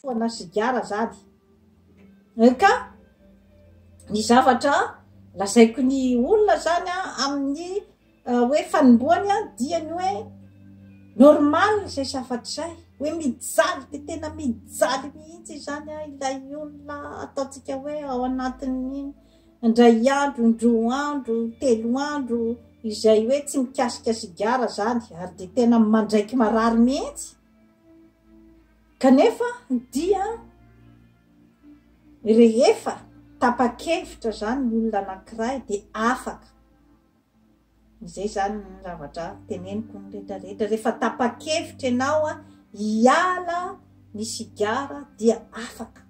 Foana sigara zany eh ka! Ny zavatra lazaiko ny olona zany an amin'ny hoe fanombohany an dia ny hoe normal zay zavatra zay hoe mijaly dia tena mijaly mihitsy izany an ilay olona ataontsika hoe ao anatin'ny indray andro, indroa andro, telo andro izay hoe tsy mikasika sigara zany ary dia tena mandraiky marary mihitsy. Kanefa dia rehefa tapa-kevitra izany ny olona anankiray dia afaka, izay izany ny zavatra teneniko ny rehetra rehetra, rehefa tapa-kevitra ianao hiala ny sigara dia afaka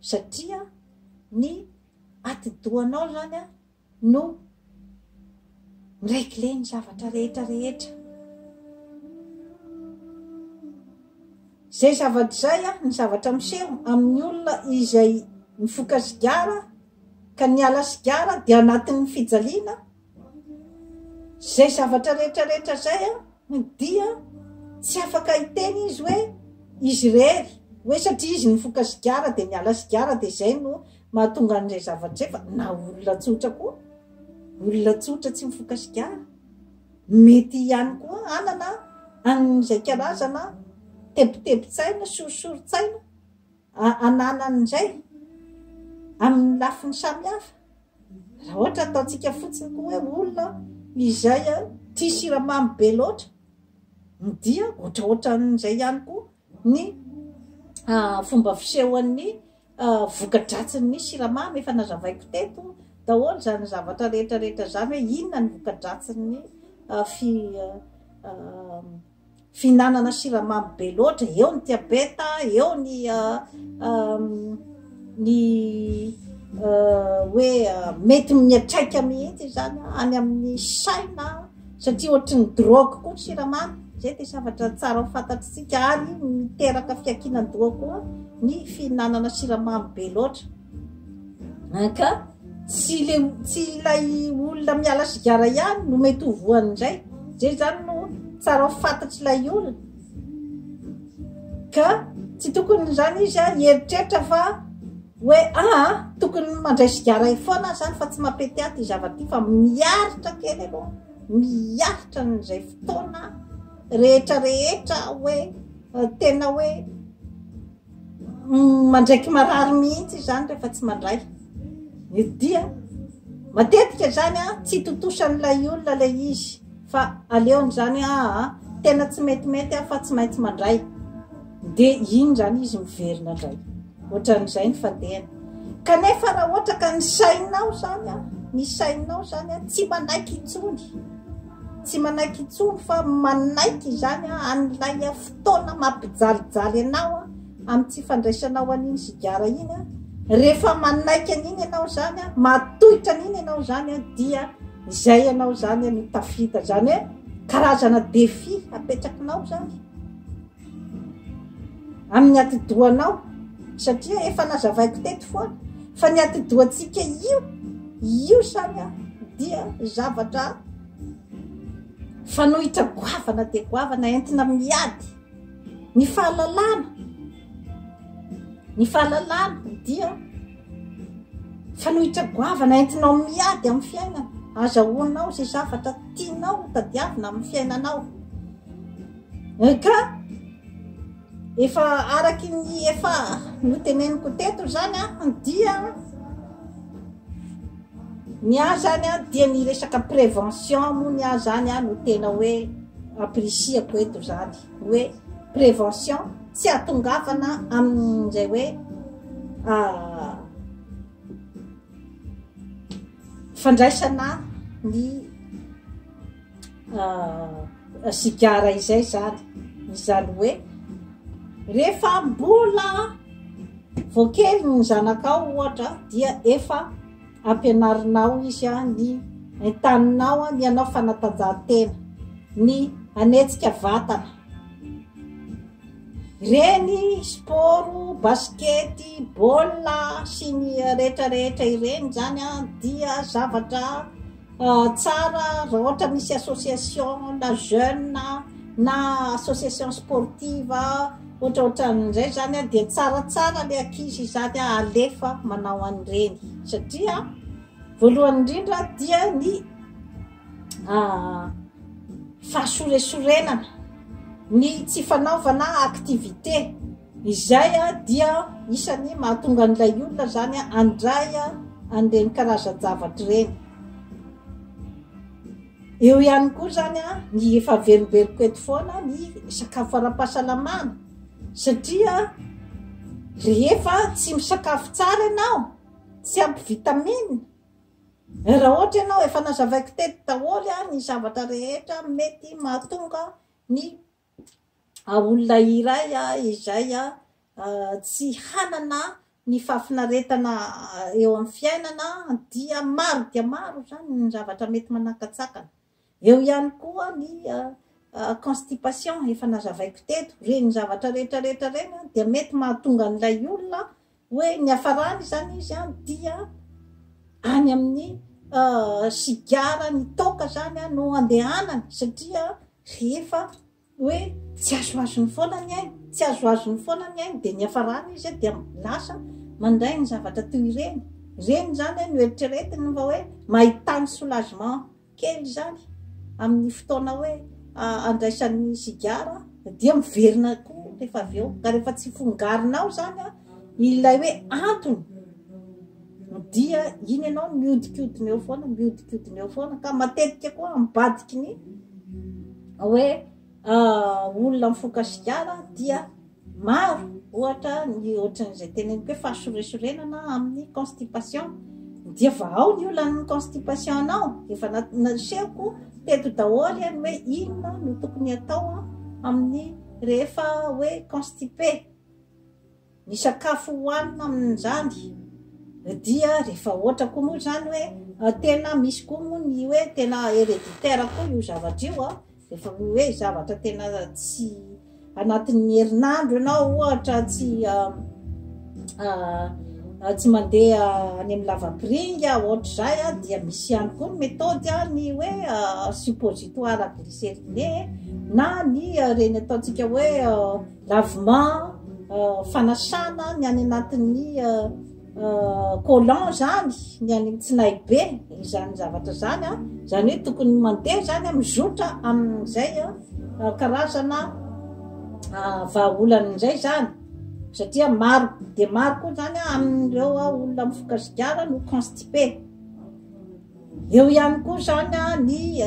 satria ny atidohanao izany no mi-regler ny zavatra rehetra rehetra. Izay zavatra izay an, ny zavatra miseho amin'ny olona izay mifoka sigara ka niala sigara dia anatin'ny fijaliana, izay zavatra rehetra rehetra izay an, dia tsy afaka hiteny izy hoe izy irery hoe satria izy nifoka sigara dia niala sigara dia izay no Mahatonga an'izay zavatra izay fa na olona tsotra koa, olona tsotra tsy mifoka sigara, mety ihany koa hanana an'izay karazana tebitebin-tsaina, sorisorin-tsaina ananan'izay amin'ny lafiny samihafa. Raha ohatra ataontsika fotsiny koa hoe olona izay tia siramamy be loatra, dia ohatraohatran'izay ihany koa ny fomba fisehoan'ny voka-dratsin'ny siramamy, efa nazavaiko teto daholo izany zavatra rehetra rehetra izany hoe inona ny voka-dratsin'ny fihinanana siramamy be loatra, eo ny diabeta, eo ny ny hoe mety mihatraika mihitsy izany any amin'ny saina. satria ohatry ny drogue koa ny siramamy, izay dia zavatra tsara ho fantatr'isika ary miteraka fiankinan-doha koa ny fihinanana siramamy be loatra ah, ka tsy le tsy ilay olona miala sigara ihany no mety ho voany indray zay zany no tsara ho fantatr'ilay olona ka tsy tokony izany izy a hieritreritra fa Oe aa, tokony mandray sigara eo foana zany fa tsy mapety aty zava ty fa miaritra kely aloha, miaritra an'izay fotoana rehetra rehetra oe tena oe mandraiky marary mihitsy zany rehefa tsy mandray dia matetika zany a tsy itotosan'ilay olona lay izy Fa aleony zany aa tena tsy metimety aho fa tsy maintsy mandray de iny zany izy miverina ndray otran'izay ny fadehany kanefa raha ohatra ka ny sainao zany a ny sainao zany a tsy manaiky intsony tsy manaiky intsony fa manaiky izany a an'ilay a fotoana mampijalijaly anao a amin'ny tsy fandraisanao an'iny sigara iny a rehefa manaiky an'iny ianao zany a matohitra an'iny ianao zany a dia Izay ianao izany no tafita, izany hoe karazana défi apetrakinao izany amin'ny atidohanao, satria efa nazavaiko teto foana fa ny atidohantsika io, io izany dia zavatra fanohitra goavana dia goavana entina miady ny fahalalana, ny fahalalana dia. Fanohitra goavana entinao miady amin'ny fiainana. Azahoanao izay zavatra tianao hotadiavina amin'ny fiainanao. Ka efa araky ny efa noteneniko teto izany an, dia ny ahy izany an, dia ny resaka prévention moa ny ahy izany an no tena hoe appreciako eto izany. Hoe prévention. Tsy atongavana amin'izay hoe fandraisana ny sigara izay zany, izany hoe rehefa mbola vao kely ny zanakao ohatra dia efa. Ampianarinao izy ny entaninao ny hanao fanatanjahantena, ny hanetsika vatana. Ireny sport basikety, baolina sy ny rehetra rehetra ireny izany dia zavatra. Tsara raha ohatra misy association na jeune na association sportive ohatraohatran'izay zany a dia tsaratsara le ankizy izany a alefa manao an'ireny satria voalohany indrindra dia ny fahasoresorenana ny tsy fanaovana activité Izay dia isan'ny mahatonga an'ilay olona izany handray an'ireny karazan-javatra ireny. Eo ihany koa izany ny efa averimberiko eto foana ny sakafo ara-pahasalamana satria rehefa tsy misakafo tsara ianao, tsy ampy vitamine, raha ohatra ianao efa nazavaiko teto daholo ny zavatra rehetra mety mahatonga ny olona iray izay tsy hanana ny fahafinaretana eo amin'ny fiainana dia maro dia maro izany ny zavatra mety manakatsakana. Eo ihany koa ny constipation efa nazavaiko teto, ireny zavatra rehetra rehetra ireny dia mety mahatonga an'ilay olona Hoe niafarany izany izy an, dia any amin'ny sigara ny toaka izany an no andehanany satria rehefa hoe tsy azoazony foana ny ainy, tsy azoazony foana ny ainy dia niafarany izy an dia lasa mandray ny zavatra toy ireny. Ireny izany an no eritreretiny fa hoe mahitany soulagement. kely izany amin'ny fotoana hoe andraisan'ny sigara dia miverina koa rehefa avy eo ka rehefa tsy fongarinao zany a ilay hoe antony dia iny ianao miodikodina eo foana miodikodina eo foana ka matetika koa ambadiky ny hoe olona mifoka sigara dia maro ohatra ny ohatran'izay teneniko hoe fahasoresorenana amin'ny constipation dia fa ao ny olan'ny constipation anao efa nasehoko teto daholo any hoe inona no tokony atao amin'ny rehefa hoe constipé Ny sakafo hohanina amin'izany dia rehefa ohatra koa moa izany hoe tena misy koa moa ny hoe tena hereditaire koa io zavatra io an, rehefa ny hoe zavatra tena tsy anatin'ny herinandro ianao ohatra tsy tsy mandeha any amin'ny lavapiringa ohatr'izay an, dia misy ihany koa ny methode ny hoe suppositoire glyceriné na ny ireny ataontsika hoe Lavement, fanasana ny any anatin'ny collant zany, ny any amin'ny tsinaibe, izany zavatra izany an, izany hoe tokony mandeha izany an, mizotra amin'izay karazana vahaolana izay izany, satria maro dia maro koa izany an, amin'ireo olona mifoka sigara no constipé. Eo ihany koa izany ny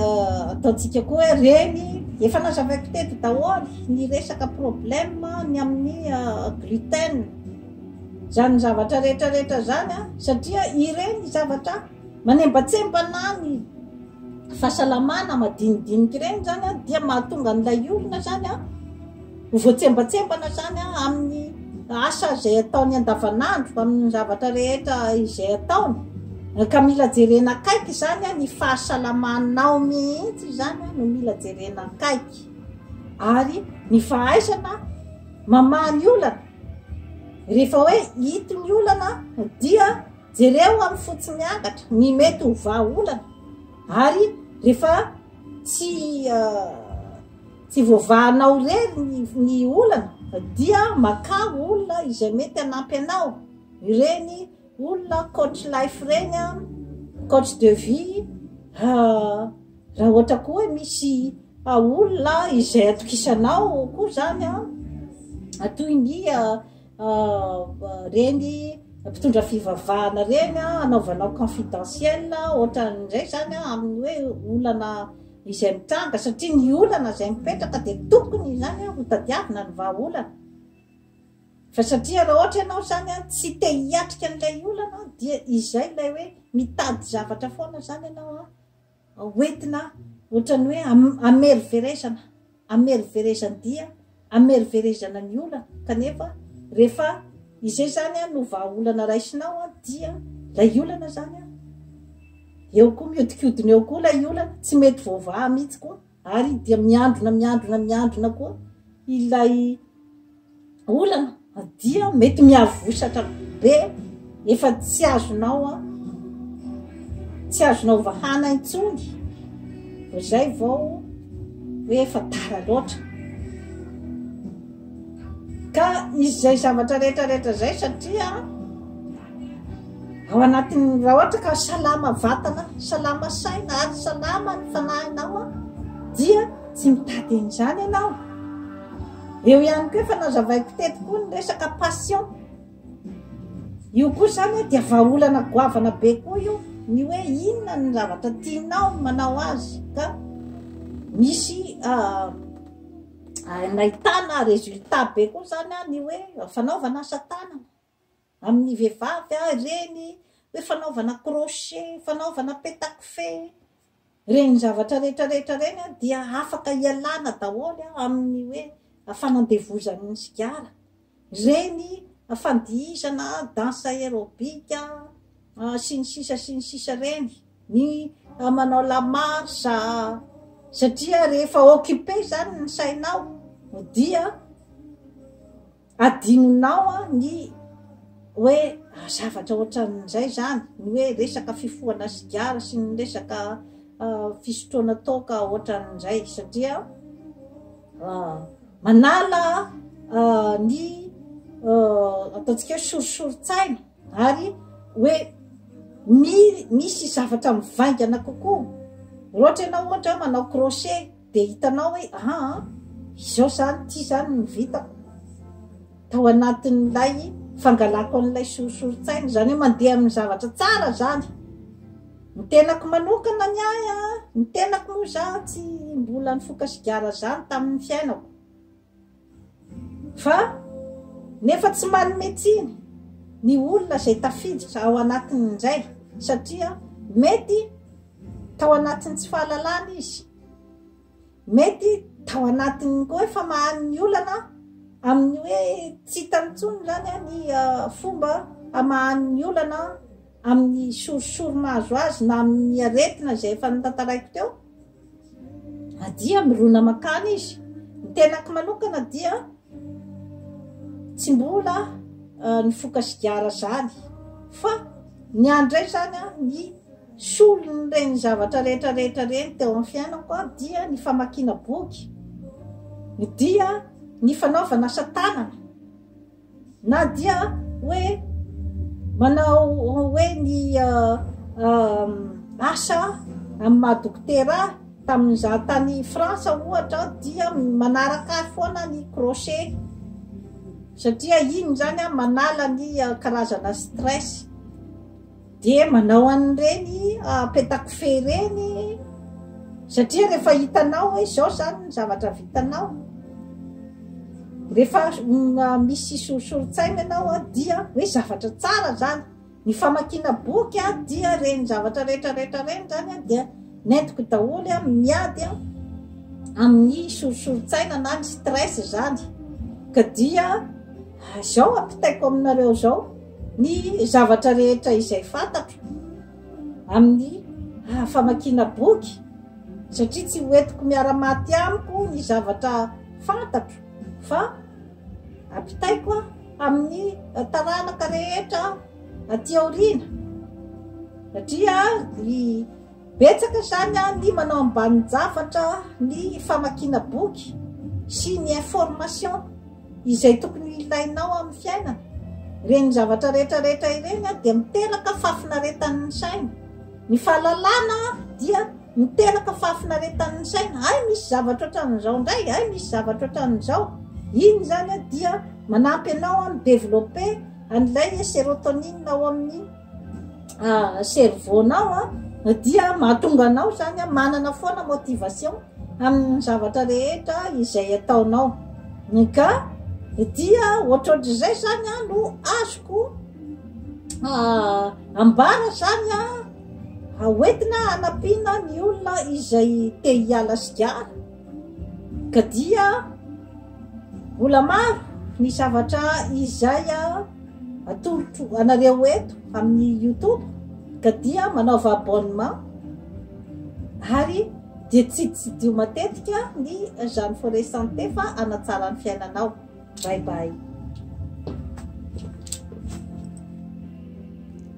ataontsika koa hoe reny, efa nazavaiko teto daholo ny resaka problème ny amin'ny gluten, izany zavatra rehetra rehetra izany satria ireny zavatra manembatsembana ny fahasalamana madinidinika ireny izany dia mahatonga an'ilay olona izany a. Ho voatsembatsembana izany amin'ny asa izay ataony andavanandro, amin'ny zavatra rehetra izay ataony. Ka mila jerena akaiky izany, ny fahasalamanao mihitsy izany no mila jerena akaiky. Ary ny fahaizana mamaha ny olana. Rehefa hoe ito ny olana dia jereo amin'ny fotsy miangatra ny mety ho vahaolana. Ary rehefa tsy... Tsy voavahanao re ny olana dia makà olona izay mety hanampy anao, ireny olona coach life ireny, coach de vie, raha ohatra koa hoe misy olona izay atokisanao koa izany an, toy ny. Reny mpitondra fivavahana reny anaovanao confidentiel otran'izay zany amin'ny hoe olana izay mitranga satria ny olana izay mipetraka dia tokony izany hotadiavina ny vahaolana fa satria raha ohatra ianao izany an tsy te hiatrika an'ilay olana dia izay ilay hoe mitady zavatra foana izany ianao an hoentina ohatran'ny hoe hameriverezana, hameriverezan-dia, hameriverezana ny olana, kanefa rehefa izay zany an no vahaolana raisinao an dia ilay olana zany an eo koa miodikodina eo koa ilay olana, tsy mety voavaha mihitsy koa. Ary dia miandrona miandrona miandrona koa ilay olana dia mety miavosatra be efa tsy azonao a tsy azonao vahana intsony vao zay vao hoe efa tara loatra Ka misy izay zavatra rehetra rehetra izay satria ao anatin'ny raha ohatra ka salama vatana, salama saina ary salama ny fanahinao dia tsy mitady an'izany ianao. Eo ihany koa efa nazavaiko teto koa ny resaka passion. Io koa izany dia vahaolana goavana be koa io ny hoe inona ny zavatra tianao manao azy ka misy ah, ary nahitana résultat be koa zany an ny hoe fanaovana asa tanana amin'ny vehivavy an ireny hoe fanaovana crochet, fanaovana petakofehy ireny zavatra rehetra rehetra ireny an dia afaka hialana daholo an amin'ny hoe fanandevozan'ny sigara. Ireny fandihizana danse aerobic sy ny sisa sy ny sisa ireny, ny manao la marche, satria rehefa occupé izany ny sainao dia adinonao ny hoe zavatra ohatran'izay izany, ny hoe resaka fifohana sigara sy ny resaka fisotroana toaka ohatran'izay satria. manala ny ataontsika hoe sorisorin-tsaina ary hoe mi misy zavatra mivaingana kokoa ohatra ianao ohatra hoe manao crochet de hitanao hoe aa ah, izao zany ty zany ny vitako tao anatin'ilay fangalako an'ilay sorisorin-tsaina zany hoe mandeha amin'ny zavatra tsara zany Ny tenako manokana ny ahy a, ny tenako moa za tsy mbola nifoka sigara zany tamin'ny fiainako fa nefa tsy manome tsiny ny olona izay tafiditra ao anatin'izay satria mety tao anatin'ny tsy fahalalana izy mety tao anatin'ny koa efa mahan'ny olana amin'ny hoe tsy hitan'ny tsony zany ny ah, fomba hamahan'ny olana amin'ny sorisory mahazo azy na amin'ny aretina izay efa notantaraiko teo dia mirona makany izy ny tenako manokana dia tsy mbola eh, ny foka sigara zany fa ny andray zany a ny solony reny zavatra rehetra rehetra reny teo amin'ny fiainako a dia ny famakiana boky dia ny fanaovana asa tanana Na dia hoe manao hoe ny asa amin'ny maha dokotera ahy, tamin'ny izaho tany Frantsa ohatra aho dia manaraka ahy foana ny crochet, satria iny izany manala ny karazana stress. Dia manao an'ireny petakofehy ireny satria rehefa hitanao hoe izao izany ny zavatra vitanao, rehefa misy soritsorin-tsaina ianao dia hoe zavatra tsara izany. Ny famakiana boky dia ireny zavatra rehetra rehetra ireny izany dia nentiko daholo miady amin'ny soritsorin-tsaina na ny stress izany ka dia izao ampitaiko aminareo izao. Ny zavatra rehetra izay fantatro amin'ny famakiana boky, satria tsy hoentiko miara-maty amiko ny zavatra fantatro fa ampitaiko amin'ny taranaka rehetra aty aoriana, satria ny Betsaka izany ny manao ambanin-javatra ny famakiana boky sy ny information izay tokony ho ilainao amin'ny fiainana. Ireny zavatra rehetra rehetra ireny dia miteraka fahafinaretan'ny saina. Ny fahalalana dia miteraka fahafinaretan'ny saina. Hay misy zavatra ohatran'izao indray, hay misy zavatra ohatran'izao. Iny izany dia manampy anao mi-developper an'ilay serotonine ao amin'ny. ah, cerveau nao ah, dia mahatonga anao zany ah, manana foana motivation amin'ny zavatra rehetra izay ataonao ka dia ohatrohatr'izay zany ah, no azoko ah, ambara zany a ah, hoentina anampiana ny olona izay te hiala sigara Ka dia mbola maro ny zavatra izay atolotro anareo eto amin'ny youtube ka dia manaova abonnement ary dia tsy tsidio matetika ny jeune forêt santé fa hanatsara ny fiainanao bye bye